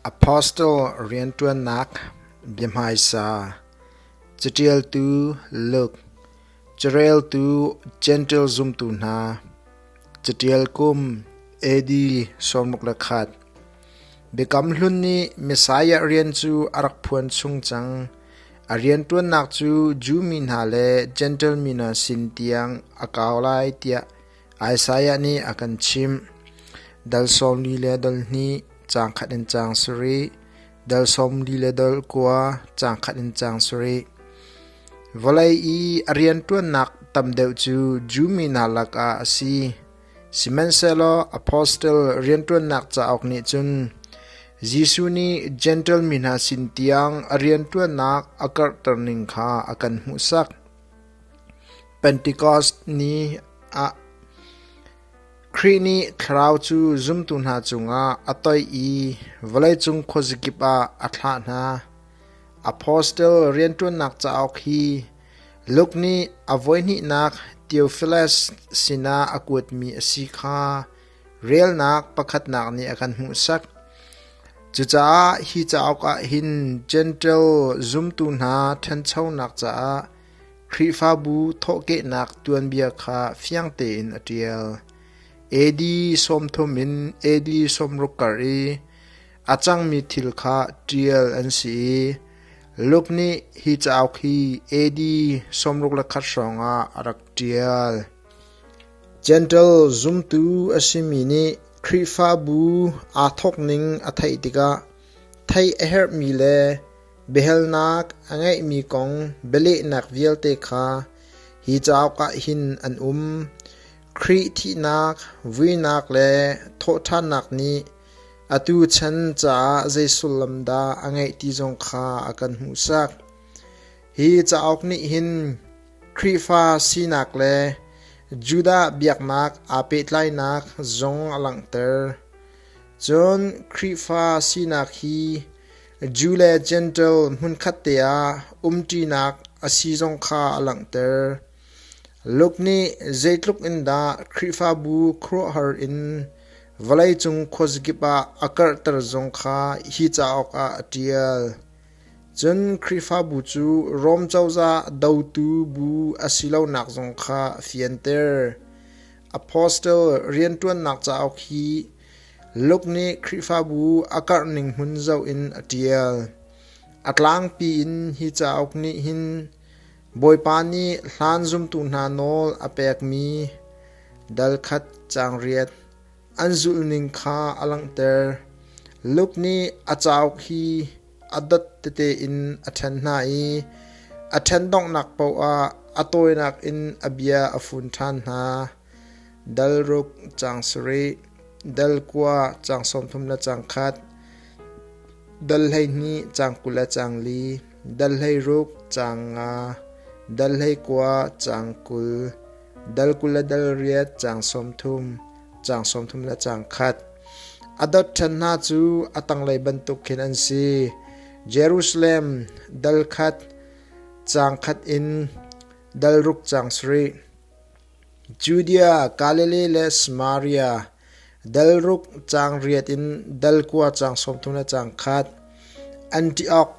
Apostle rianṭuannak biahmaisa, caṭialtu Luke, careltu Jentail zumtu hna, caṭial kum AD sawmruk le khat. Biakam Hlun nih Messiah rian cu a rak phuan chung cang. A rianṭuannak cu Jew mi hna le Jentail mi hna sin tiang a kau lai tiah Isaiah nih a kan chimh, Dal sawmli le dol hnih caang khat in caang sarih, dal sawmli le dol kua caang khat in caang sarih. Vawlei i a rianṭuannak tam deuh cu Jew mi hna lakah a si. Sihmanhsehlaw apostle rianṭuannak cauk nih cun Jesuh nih Jentail mi hna sin tiang a rianṭuannak a karhter ning kha a kan hmuhsak. Pentekost ni ah Khrih nih thlarau cu zumtu hna cungah a toih i vawleicung khuazakip ah a thlah hna. Apostle rianṭuannak cauk hi Luke nih a voihnihnak Theophilus sinah a kuatmi a si kha relnak pakhatnak nih a kan hmuhsak. Cucaah hi cauk ah hin Jentail zumtu hna ṭhanchonak caah Khrihfabu thawhkehnak tuanbia kha fiang tein a ṭial. AD sawmthum in AD sawmruk kar i a cangmi thil kha ṭial an si i Luke nih hi cauk hi AD sawmruk le khat hrawngah a rak ṭial. Gentle zumtu a simi nih Khrihfabu aa thawk ning a theih tikah theih a herhmi le biahalnak a ngeihmi kong bialehnak vialte kha hi cauk ah hin an um: Khrih thihnak, vuinak le thawhṭhannak nih atu chan caah zei sullam dah a ngeih ti zong kha a kan hmuhsak. Hi cauk nih hin Khrihfa sinak le Judah biaknak aa pehtlainak zong a langhter. Cun Khrihfa sinak hi Jew le Jentail hmunkhat te ah umṭinak a si zong kha a langhter. Luke nih zeitluk in dah Khrihfabu khuaruahhar in vawleicung khuazakip ah a karhter zong kha hi cauk ah a ṭial. Cun Khrihfabu cu Rom cozah dotu bu a si lonak zong kha a fianter. Apostle rianṭuannak cauk hi Luke nih Khrihfabu a karhning hmun zoh in a ṭial. A tlangpi in hi cauk nih hin Bawipa nih hlan zumtu hna nawl a pekmi dal khat caangriat, an zulhning kha a langhter. Luke nih a cauk hi a dat tete in a ṭhen hna i a ṭhen donghnak paohah a tawinak in a bia a fun ṭhan hna. Dal ruk cang sarih, dal kua cang sawmthum le cang khat, dal hleihnih cang kul le cang li, dal hleiruk cang nga, dal hleikua cang kul, dal kul le dal riat caang sawmthum caang sawmthum le caang khat a dot ṭhan hna cu a tanglei bantuk khin an si Jerusalem dal khat caang khat in dal ruk caang sarih Judea Galilee le Samaria dal ruk caang riat in dal kua caang sawmthum le caang khat Antiok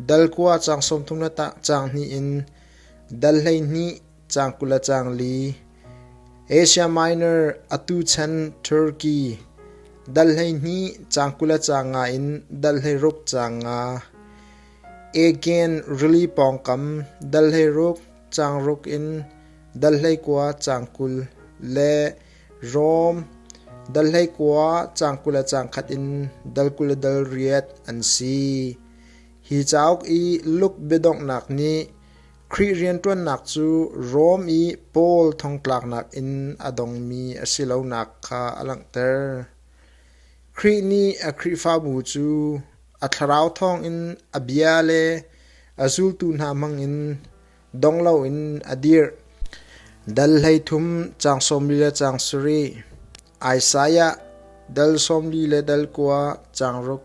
dal kua caang sawmthum le caang hnih in dal hleihnih Caang kul le caang li Asia Minor atu chan Turkey dal hleihnih caang kul le caang nga in dal hleiruk caang nga Aegean rili pawngkam dal hleiruk caang ruk in dal hleikua caang kul le Rom dal hleikua caang kul le caang khat in dal kul le dal riat an si. Hi cauk i Luke biadonghnak nih Khrih rianṭuannak cu Rom i Paul thongtlaknak in a dongmi a si lonak kha a langhter. Khrih nih a Khrihfabu cu a thlarau thawngin a bia le a zultu hna hmangin dong loin a dirh. Dal hleithum caang sawmli le caang sarih, Isaiah dal sawmli le dal kua caang ruk.